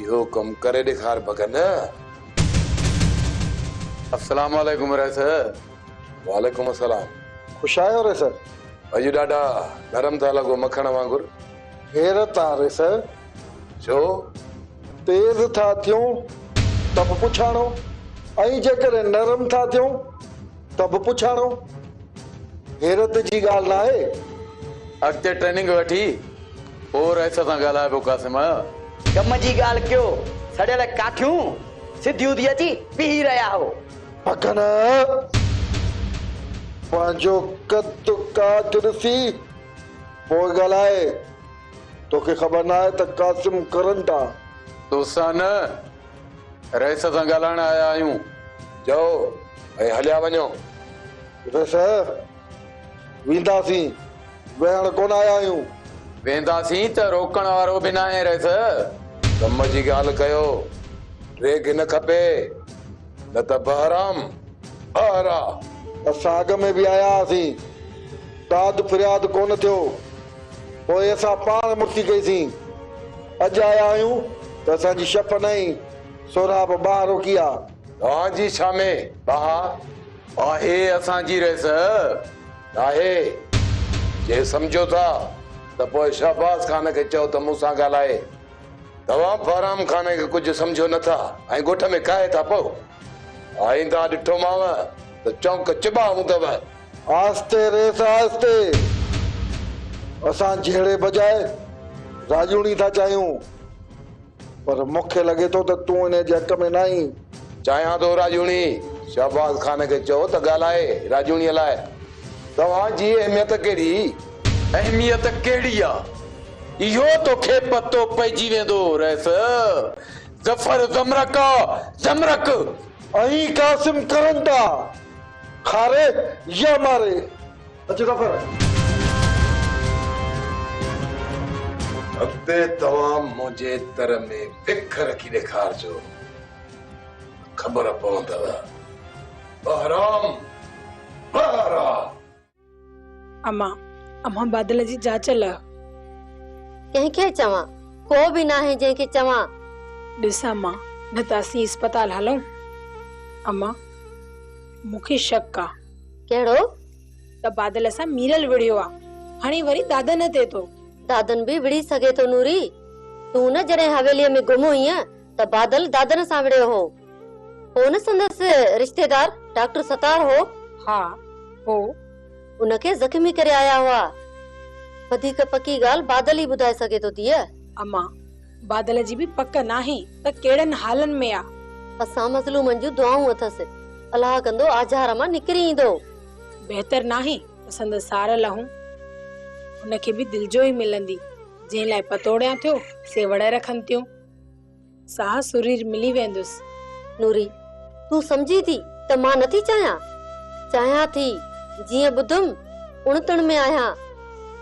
اهو ڪم ڪري ڏيکار بگن. السلام عليڪم رئيس. وعليڪم السلام. خوش آهيو رئيس. اڄ ڏاڍا نرم ٿا لڳو مکڻ وانگر. حيرت آ رئيس. ڇو؟ تيز ٿا ٿيون ته به پڇاڻو ۽ جيڪڏهن نرم ٿا ٿيون ته به پڇاڻو. حيرت جي ڳالهه ناهي. اڳتي ٽريننگ وٺي پوء رئيس سان ڳالهاء پيو قاسم. ڪم جي ڳالهه ڪيو، سڙيل ڪاٺيون سڌيون ٿي اچي پيهي رهيا هو. پکن پنهنجو قد ڪاٺ ڏسي پوء ڳالهائي، توکي خبر ناهي ته قاسم ڪرن ٽا. تو سان نه، رئيس سان ڳالهائڻ آيا آهيون. چئو ۽ هليا وڃو. رئيس. وينداسين، ويهڻ ڪونه آيا آهيون. وينداسين ته روڪڻ وارو به ناهي رئيس. ڪم جي ڳالهه ڪيو، ڊريگ نه کپي، نه ته بهرام ٻاهران. اسان اڳ ۾ به آيا هئاسين، داد فرياد ڪونه ٿيو، پوء اسان پاڻ مڙسي ڪئيسين. اڄ آيا آهيون ته اسان جي شف نئين، سهراب ٻاهه روڪي آ. توهان جي ڇا ۾ ٻاهه؟ آهي اسان جي ريس ناهي، جي سمجهو ٿا ته پوء شهباز خان کي چئو ته مون سان ڳالهائي، توهان بهرام خان کي ڪجهه سمجهو نه ٿا ۽ ڳوٺ ۾ ڪاهي ٿا پئو، آئينده ڏٺومانء ته چونڪ چٻا هوندؤ. آهستي ريس آهستي، اسان جهيڙي بجائي راڄوڻي ٿا چاهيون، پر مون کي لڳي ٿو ته تون انهيء جي حق ۾ ناهين. چاهيان ٿو راڄوڻي شهباز خان کي چئو ته ڳالهائي راڄوڻيء لاء توهان جي اهميت ڪهڙي؟ اهميت ڪهڙي آ؟ اهو تو کي پتو پئجي ويندو رئيس ظفر زمرڪ آ زمرڪ. ۽ قاسم ڪرن ٿا کاري يا ماري. اچ ظفر. اڳتي توهان منهنجي تر ۾ وک رکي ڏيکارجو ته خبر پوندؤ. بهرام بهرام. اما، اما بادل جي چاچل آهيو. ڪنهن کي چوان؟ ڪو به ناهي جنهن کي چوان. ڏس اما، نه ته اسين اسپتال هلون. اما، مون کي شڪ آ. ڪهڙو؟ تبادل سان ميرل وڙهيو آ. هاڻي وري دادن تي ٿو. دادن به وڙهي سگهي ٿو نوري. تون نه جڏهن حويليء ۾ گم هئينء ته بادل دادن سان وڙهيو هو. هو نه سندس رشتيدار ڊاڪٽر ستار هو؟ ها هو. ان کي زخمي ڪري آيا هئا. وڌيڪ پڪي ڳالهه بادل ئي ٻڌائي سگهي ٿو ڌيء. امان! بادل جي به پڪ ناهي ته ڪهڙن حالن ۾ آ. اسان مظلومن جون دعائون اٿس. الاهه ڪندو آجهار مان نڪري ايندو. بهتر ناهي ته سندس سار لهون. هن کي به دلجوئي ملندي. جنهن لاء پتوڙيان ٿيو سي وڙهه رکن ٿيون. ساهه سرير ملي ويندس. نوري، تون سمجهين ٿي ته مان نٿي چاهيان؟ چاهيان ٿي. جيئن ٻڌم اڻ تڻ ۾ آهيان.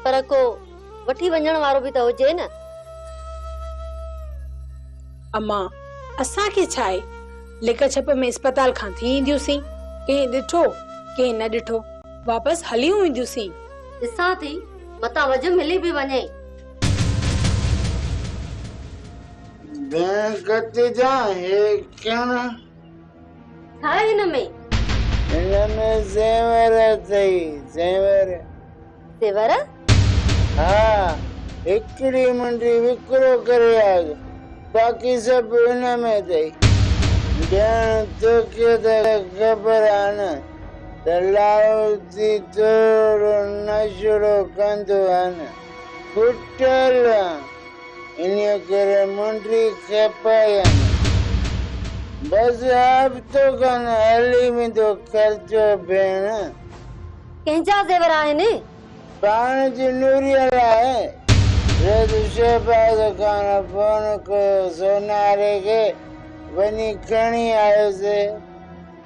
پر ڪو. وٺي وڃڻ وارو به ته هجي نه. امان، اسان کي ڇا آهي، لڪ ڇپ ۾ اسپتال کان ٿي اينديونسين، ڪنهن ڏٺو، ڪنهن نه ڏٺو، واپس هليون اينديونسين. ڏسان ٿي، متان وجهه ملي به وڃي. ڀينگت جا هي ڪڻ. ڇا آهي هن ۾؟ هن ۾ زيور اٿئي، زيور. زيور؟ ها، هڪڙي منڊي وڪرو ڪري آڳ، باقي سڀ هن ۾ اٿئي. ڄڻ توکي ته خبر آهي نه ته لاهوتي ٿورڙو نشڙو ڪندو آهي نه، ڦٽل آن. انهيء ڪري منڊي کپائين. بس هفتو کن هلي ويندو خرچو ڀيڻ. ڪنهن جا زيور آهن؟ پاڻ جي نوريء لاء. ريت شهباز خان فون ڪيو سوناري کي، وڃي کڻي آيوسي.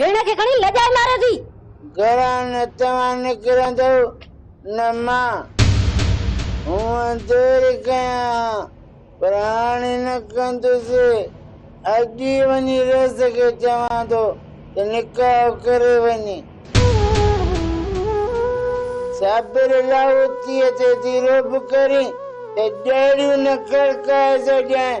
ڀيڻ کي کڻي لڄائي ماريو ٿي. گهران نه توهان نڪرندؤ نه مان. هونئن دير ڪيان ها پر هاڻي نه ڪندس. اڄ ئي وڃي رئيس کي چوان ٿو ته نڪاح ڪري وڃي. صابر لاهوتيء تي ٿي رعب ڪرين ته ڏهڙيون نه کڙڪائي ڇڏيائين.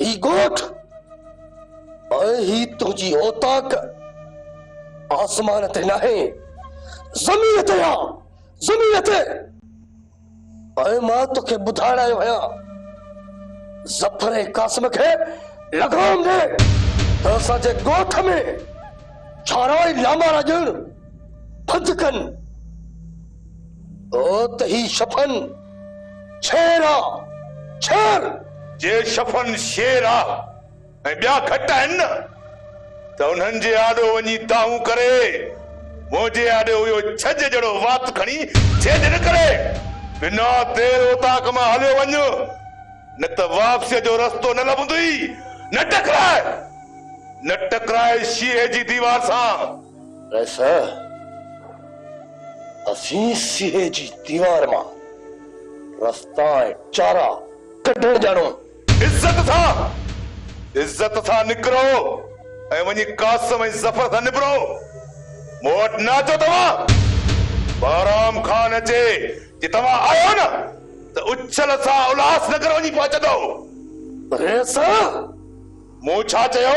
هي ڳوٺ ۽ هي تنهنجي اوطاق آسمان تي ناهي، زمين تي آ، زمين تي! ۽ مان توکي ٻڌائڻ آيو آهيان، ظفر ۽ قاسم کي لغام ڏي ته اسان جي ڳوٺ ۾ ڇارا ۽ لامارا ڄڻ بند ڪن. او ته هي شفن! ڇير آ ڇير! جي شفن شير آ ۽ ٻيا گهٽ آهن نه ته انهن جي آڏو وڃي دانهون ڪري، منهنجي آڏو اهو ڇڄ جهڙو وات کڻي جهيڄ نه ڪري. بنا دير اوطاق مان هليو وڃ، نه ته واپسيء جو رستو نه لڀندينء. نه ٽڪراء، نه ٽڪراء شيهي جي ديوار سان. رئيسه! اسين سيهي جي ديوار مان رستا ۽ چارا ڪڍڻ ڄاڻون. عزت سان، عزت سان نڪرو ۽ وڃي قاسم ۽ ظفر سان نبرو. مون وٽ نه اچو توهان. بهرام خان اچي جي توهان آيو نه ته اڇل سان الهاس نگر وڃي پهچندو. رئيسه! مون ڇا چيو؟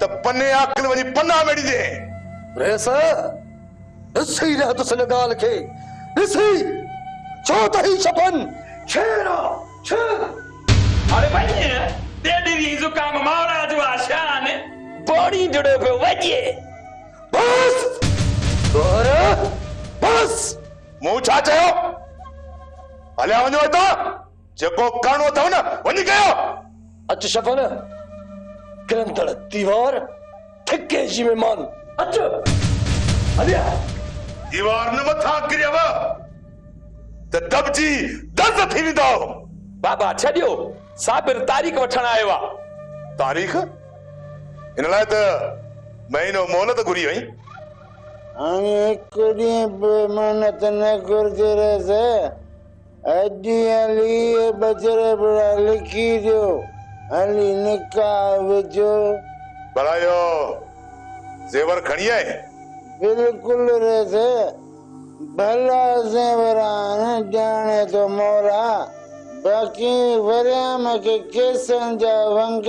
ته پني عاقل وڃي پناهه ميڙي ڏينهين. ريس، ڏسي رهتس هن ڳالهه کي، ڏسي، ڇو ته هي شپن شير آ، شير! اڙي وڃ، تيڏي ريء زڪام ماڙا جو آ شان. پوڙهين جڙيو پيو وڄي. بس! گوهر، بس! مون ڇا چيو؟ هليا وڃو هتان! جيڪو ڪرڻو اٿئو نه وڃي ڪيو. اچ شفن ڪرندڙ ديوار ٿڪي جي مھمان اچ ھليا. ديوار نه مٿان ڪريو ته دٻجي درد ٿي ويندؤ. بابا ڇڏيو صابر تاريخ وٺڻ آيو آ. تاريخ؟ ان لاء ته مھينو مھلت گھري ھئي. ھاڻي ھڪ ڏينھن به مھلت نه گھرجي رھيس. اڄ يا ليء بجر ابڙا لکي ڏيو، هلي نڪاح وجهو. ڀلا اهو زيور کڻي آئين؟ بلڪل ريس، ڀلا زيور آهن، ڄاڻي ٿو مولا، باقي وريام کي ڪيسن جا ونگ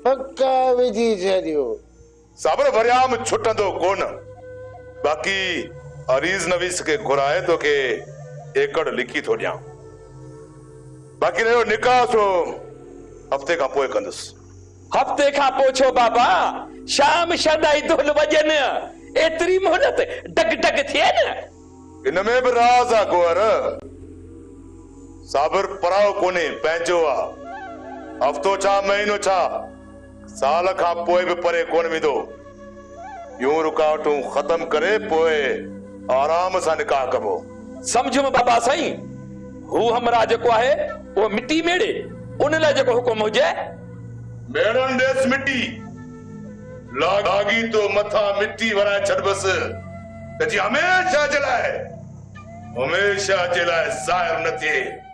پڪا وجهي ڇڏيو. صبر وريام ڇٽندو ڪونه. باقي عريض نويس کي گهرائي توکي ايڪڙ لکي ٿو ڏيان. باقي رهيو نڪاح سو هفتي کان پوء ڪندس. هفتي کان پوء ڇو بابا؟ شام شردائي دهل وڄن. ايتري مهلت ڊگ ڊگ ٿئي نه. ان ۾ به راز آ گوهر. صابر پرائو ڪونهي پنهنجو آ. هفتو ڇا مهينو ڇا. سال کان پوء به پري ڪونه ويندو. يون رڪاوٽون ختم ڪري پوء آرام سان نڪاح ڪبو. سمجهيم بابا سائين، هو همراهه جيڪو آهي اهو مٽي ميڙي، ان لاء جيڪو حڪم هجي. ميڙڻ ڏيس مٽي. لاڳيتو مٿان مٽي ورائي ڇڏبس ته جيئن هميشه جي لاء هميشه جي لاء ظاهر نه ٿئي.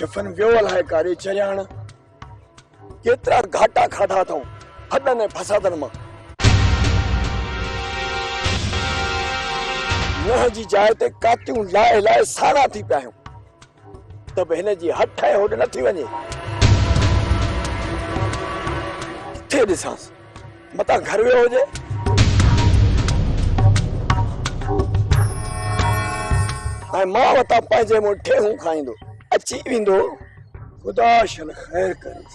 شفن ويو الائي ڪاري چرياڻ ڪيترا گهاٽا کاڌا اٿئون ڦڏن ۽ فسادن مان نوح جي جاء تي ڪاتيون لائي لائي سانا ٿي پيا آهيون ته به هن جي هٺ ۽ هوڏ نه ٿي وڃي. ڪٿي ڏسانس؟ متان گهر ويو هجي. ۽ مان وتان پنهنجي مون ٺيهون کائيندو اچي ويندو. خدا شل خير ڪريس.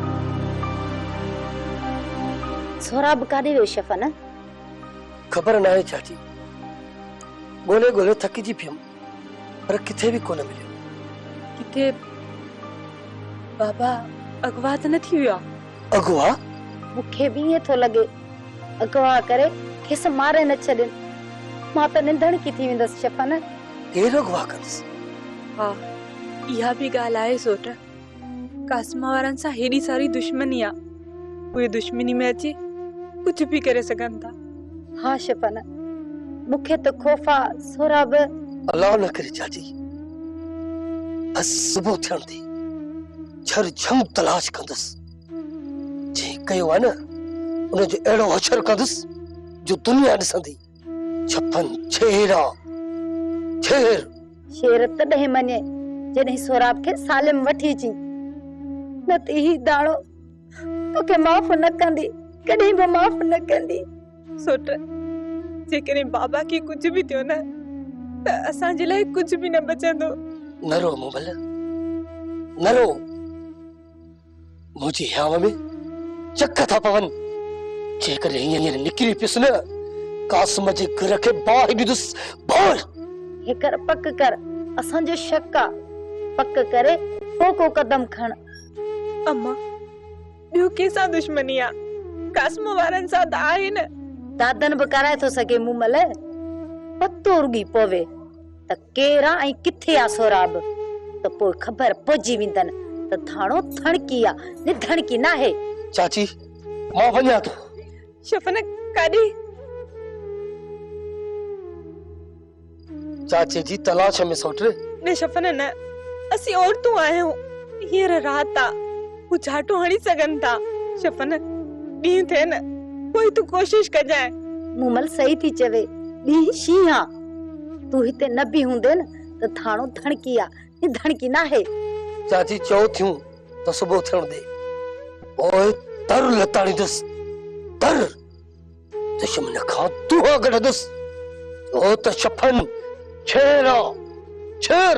سهراب ڪاڏي ويو شفن؟ خبر ناهي چاچي. ڳولي ڳولي ٿڪجي پيم پر ڪٿي به ڪونه مليو. ڪٿي بابا اغوا ته نه ٿي ويو آ؟ اغوا؟ مون کي به ائين ٿو لڳي. اغوا ڪري کيس ماري نه ڇڏين. مان ته ننڌڻڪي ٿي ويندس شفن. ڪير اغوا ڪندس؟ ها اها به ڳالهه آهي سوٽ. قاسم وارن سان هيڏي ساري دشمني آ اهي دشمني ۾ اچي ڪجهه به ڪري سگهن ٿا ها شفن مون کي ته خوف آ سهراب الله نه ڪري چاچي بس صبح ٿيڻ تي جھر جھم تلاش ڪندس جي ڪيو آ نه ان جو اهڙو حشر ڪندس جو دنيا ڏسندي ڇپن ڇيرا ڇير شير تڏهن مڃي جڏهن سهراب کي سالم وٺي اچي نه ته هي داڻو توکي معاف نه ڪندي ڪڏهن به معاف نه ڪندي سوٽ جيڪڏهن بابا کي ڪجهه به ٿيو نه ته اسان جي لاء ڪجهه به نه بچندو نه رو مبل نه رو منهنجي هيانء ۾ چڪ ٿا پون، جيڪڏهن هينئر نڪري پيس نه، قاسم جي گهر کي باهه ڏيندس، باهه! هيڪر پڪ ڪر، اسان جو شڪ آ، پڪ ڪري پوء ڪو قدم کڻ. اما، ٻيو ڪنهن سان دشمني آ، قاسم وارن سان ته آهي نه. دادن به ڪرائي ٿو سگهي مون ملئه، پتو رڳي پوي. ته ڪير آ ۽ ڪٿي آ سهراب، ته پوء خبر پئجي ويندن ته ڌاڻو ڌڻڪي آ، نڌڻڪي ناهي. چاچي، مان وڃان ٿو. شفنه، ڪاڏي؟ چاچي جي تلاش ۾ سوٽ. نه شفنه نه، اسين عورتون آهيون، هينئر رات آ، هو جهاٽو هڻي سگهن ٿا. شفنه، ڏينهن ٿئي نه، پوء تون ڪوشش ڪجانء. مومل صحيح ٿي چوي، ڏينهن شينهن آ. تون هتي نه به هوندين ته ٿاڻو ڌڻڪي آ هي ڌڻڪي ناهي. چاچي چئو ٿيون ته صبح ٿيڻ ڏي پوء تر لتاڙيندس تر دشمن کان دوها ڪڍندس ڇو ته شفن ڇير آ ڇير.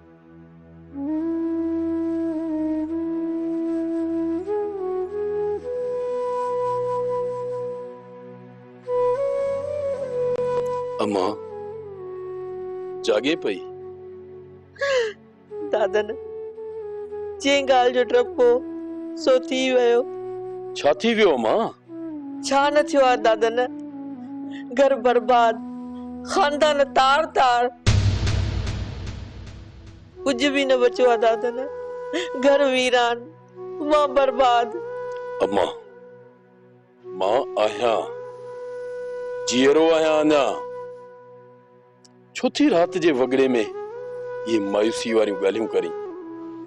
اما جاڳي پئي. دادن، جنهن ڳالهه جو ڊپ هو، سو ٿي ويو. ڇا ٿي ويو اما؟ ڇا نه ٿيو آهي دادن، گهر برباد، خاندان تار تار. ڪجهه به نه بچيو آهي دادن، گهر ويران، مان برباد. اما، مان آهيان، جيئرو آهيان اڃا. ڇو ٿي رات جي وڳڙي ۾ اهي مايوسي واريون ڳالهيون ڪرين؟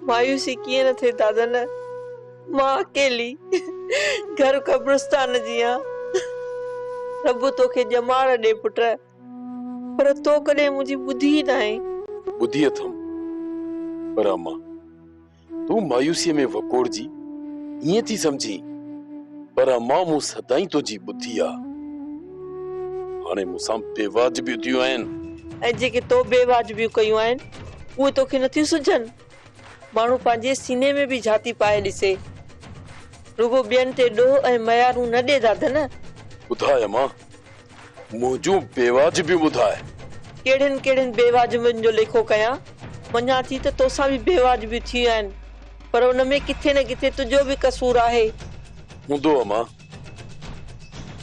مايوسي ڪيئن نه ٿئي دادن، مان اڪيلي گهر قبرستان جيان. رب توکي ڄمار ڏي پٽ، پر تو ڪڏهن منهنجي ٻڌي ئي ناهين. ٻڌي اٿم پر امان. تون مايوسيء ۾ وڪوڙجي ائين ٿي سمجهين، پر امان مون سدائين تنهنجي ٻڌي آ. هاڻي مون سان بي واجبيون ٿيون آهن. ۽ جيڪي تو بي واجبيون ڪيون آهن، اهي توکي نه ٿيون سجهن؟ ماڻهو پنهنجي سيني ۾ به جهاتي پائي ڏسي. رڳو ٻين تي ڏوهه ۽ ميارون نه ڏي دادن. ٻڌاء امان، منهنجون بيواجبيون ٻڌاء. ڪهڙين ڪهڙين بيواجبين جو ليکو ڪيان؟ مڃان ٿي ته تو سان به بيواجبيون ٿيون آهن، پر ان ۾ ڪٿي نه ڪٿي تنهنجو به قصور آهي. هوندو اما،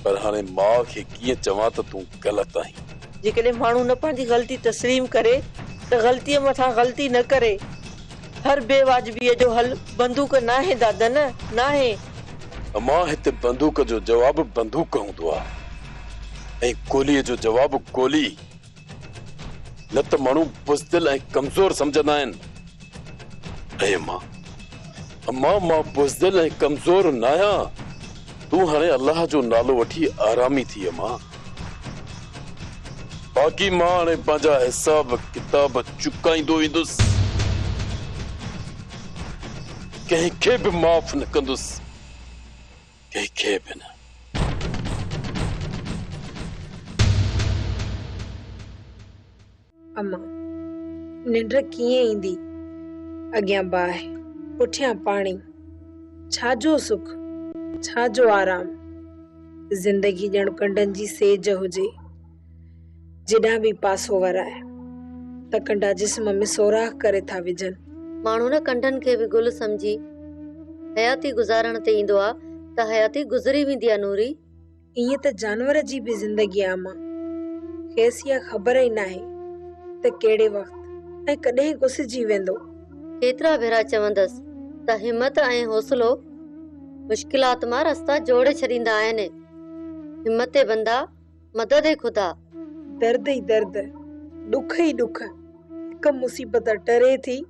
پر هاڻي ماء کي ڪيئن چوان ته تون غلط آهين؟ جيڪڏهن ماڻهو نه پنهنجي غلطي تسليم ڪري ته غلطيء مٿان غلطي نه ڪري. هر بي واجبيء جو حل بندوق ناهي دادن، ناهي! امان هتي بندوق جو جواب بندوق هوندو آ ۽ گوليء جو جواب گولي. نه ته ماڻهو بزدل ۽ ڪمزور سمجهندا آهن. ۽ امان، امان مان بزدل ۽ ڪمزور ناهيان. تون هاڻي الله جو نالو وٺي آرامي ٿي امان. باقي مان هاڻي پنهنجا حساب ڪتاب چڪائيندو ويندس. ڪنهن کي به معاف نه ڪندس. ڪنهن کي به نه. اما! ننڊ ڪيئن ايندي؟ اڳيان باهه، پٺيان پاڻي، ڇا جو سک، ڇا جو آرام؟ زندگي ڄڻ ڪنڊن جي سيج هجي، جيڏانهن به پاسو وراء ته ڪنڊا جسم ۾ سوراخ ڪري ٿا وجهن. ماڻهو نه ڪنڊن کي به گل سمجهي حياتي گذارڻ تي ايندو آ ته حياتي گذري ويندي آ نوري! ائين ته جانور جي به زندگي عام آ. کيس اها خبر ئي ناهي ته ڪهڙي وقت ۽ ڪڏهن گسجي ويندو. ڪيترا ڀيرا چوندس ته همت ۽ حوصلو مشڪلات مان رستا جوڙي ڇڏيندا آهن. همت ئي بندا، مدد ئي خدا. درد ئي درد، ڏک ئي ڏک، هڪ مصيبت ٽري ٿي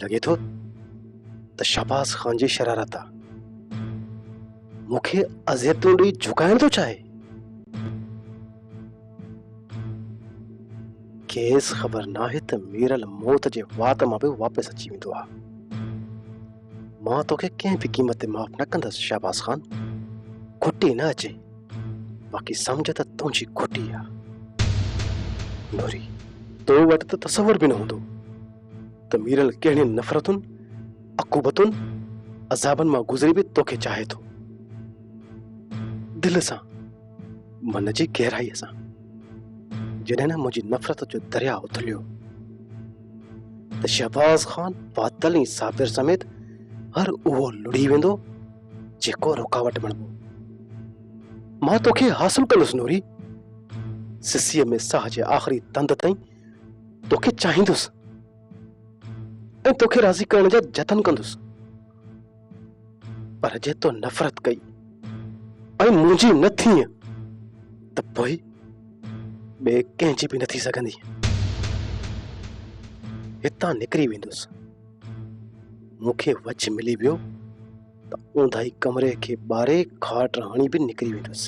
لڳي ٿو ته شهباز خان جي شرارت آ مون کي اذيتون ڏئي جهڪائڻ ٿو چاهي کيس خبر ناهي ته ميرل موت جي وات مان به واپس اچي ويندو آ مان توکي ڪنهن به قيمت تي معاف نه ڪندس شهباز خان کٽي نه اچي باقي سمجھ ته تنهنجي کٽي آ نوري تو وٽ ته تصور به نه هوندو ته ميرل ڪهڙين نفرتن عقوبتن عذابن مان گذري به توکي چاهي ٿو دل سان من جي گهرائي سان جڏهن نه منهنجي نفرت جو درياء اٿليو ته شهباز خان بادل ۽ صابر سميت هر اهو لڙهي ويندو جيڪو رڪاوٽ بڻبو مان توکي حاصل ڪندس نوري سسيء ۾ ساهه جي آخري تند تائين توکي چاهيندس ۽ توکي راضي ڪرڻ جا جتن ڪندس پر جي تو نفرت ڪئي ۽ منهنجي نه ٿي ته پوء ٻي ڪنهن جي به نه ٿي سگهندي هتان نڪري ويندس مونکي وچ ملي ويو ته اونداهي ڪمري کي ٻاري کاٽ هڻي به نڪري ويندس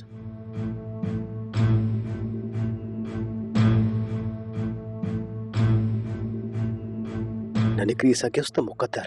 نه نڪري سگهيس ته مقدر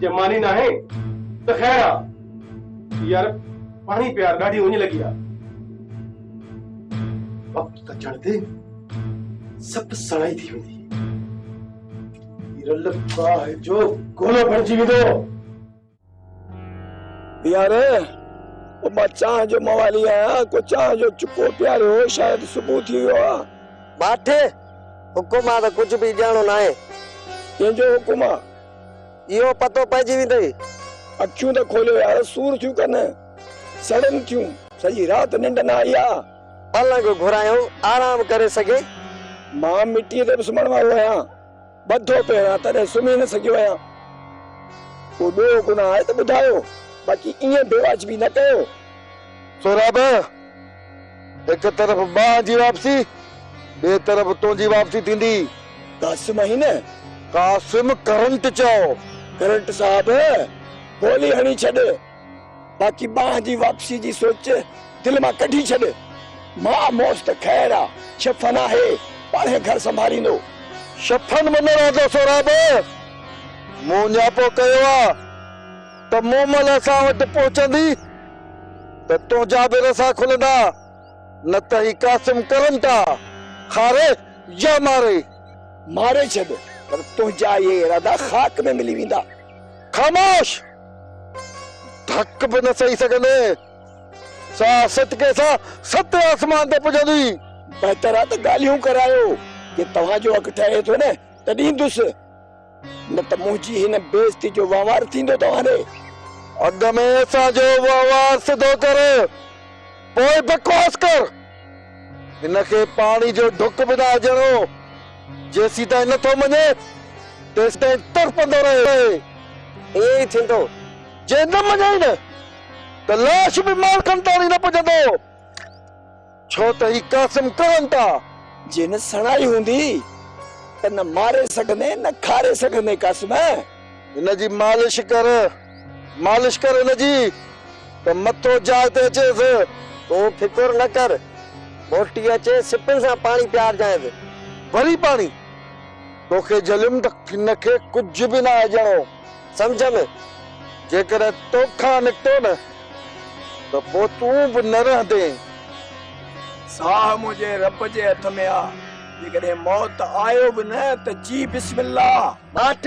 جي ماني ناهي ته خير آ. يار پاڻي پيار ڏاڍي اڃ لڳي آ. وقت ڪٽڻ تي سڀ سڻائي ٿي ويندي. هي رل باهه جو گولو بڻجي ويندو. يار او مان چانهه جو موالي آهيان ڪو چانهه جو چڪو پياريو هو شايد صبح ٿي ويو آ. باٺي حڪم آ ته ڪجهه به ڄاڻو ناهي. ڪنهن جو حڪم آ؟ اهو پتو پئجي ويندئي. اکيون ته کوليو يار سور ٿيون ڪن سڙن ٿيون سڄي رات ننڊ نه آئي آ. پلنگ گهرايو آرام ڪري سگهي. مان مٽيء تي به سمهڻ وارو آهيان ٻڌو پيو آهيان تڏهن سمهي نه سگهيو آهيان. ڪو ڏوهه گناهه آهي ته ٻڌايو باقي ائين بيواجبي نه ڪيو. سهراب! هڪ طرف ٻانهن جي واپسي، ٻئي طرف تنهنجي واپسي ٿيندي. قاسم آهين نه؟ قاسم ڪرنٽ چيو. ڪرنٽ صاحب، گولي هڻي ڇڏ، باقي ٻانهن جي واپسيء جي سوچ دل مان ڪڍي ڇڏ. ماء موس ته خير آ، شفن آهي، پاڻهي گهر سنڀاليندو. شفن منڱڻ آ جو سهراب مون اڃا پوء ڪيو آ. ته مومل اسان وٽ پهچندي ته تنهنجا به رسا کلندا، نه ته هي قاسم ڪرم ٿا کاري يا ماري. ماري ڇڏ، پر تنهنجا اهي ارادا خاڪ ۾ ملي ويندا. خاموش! ڌڪ به نه سهي سگهندين. سا سٽڪي سان ستين آسمان تي پڄندي. بهتر آ ته ڳالهيون ڪرايو. جي توهان جو حق ٺهي ٿو نه، ته ڏيندس. نه ته منهنجي هن بي عزتي جو وهنوار ٿيندو توهان ڏي. اڳ ۾ اسان جو وهنوار سڌو ڪر، پوء بڪواس ڪر. هن کي پاڻي جو ڍڪ به نه اجهڻو هو. جيسيتائين نه ٿو مڃي، تيسيتائين تڙپندو رهي. ائين ئي ٿيندو. جي نه مڃيئي نه، ته لاش به مالڪن تائڻي نه پڄندو. ڇو ته هي قاسم ڪهن ٿا. جي نه سڻائي هوندي ته نه ماري سگهندين نه کاري سگهندين قاسم. هن جي مالش ڪر، مالش ڪر هن جي ته مٿو جاء تي اچيس. تون فڪر نه ڪر، موٽي اچي سپن سان پاڻي پيارجانئس. وري پاڻي؟ توکي جهليم ته هن کي ڪجهه به ناهي ڏيڻو. سمجهه ۾، جيڪڏهن تو کان نڪتو نه، ته پوء تون به نه رهندين. ساهه منهنجي رب جي هٿ ۾ آ، جيڪڏهن موت آيو به نه، ته چئي بسم الله! ٻاٽ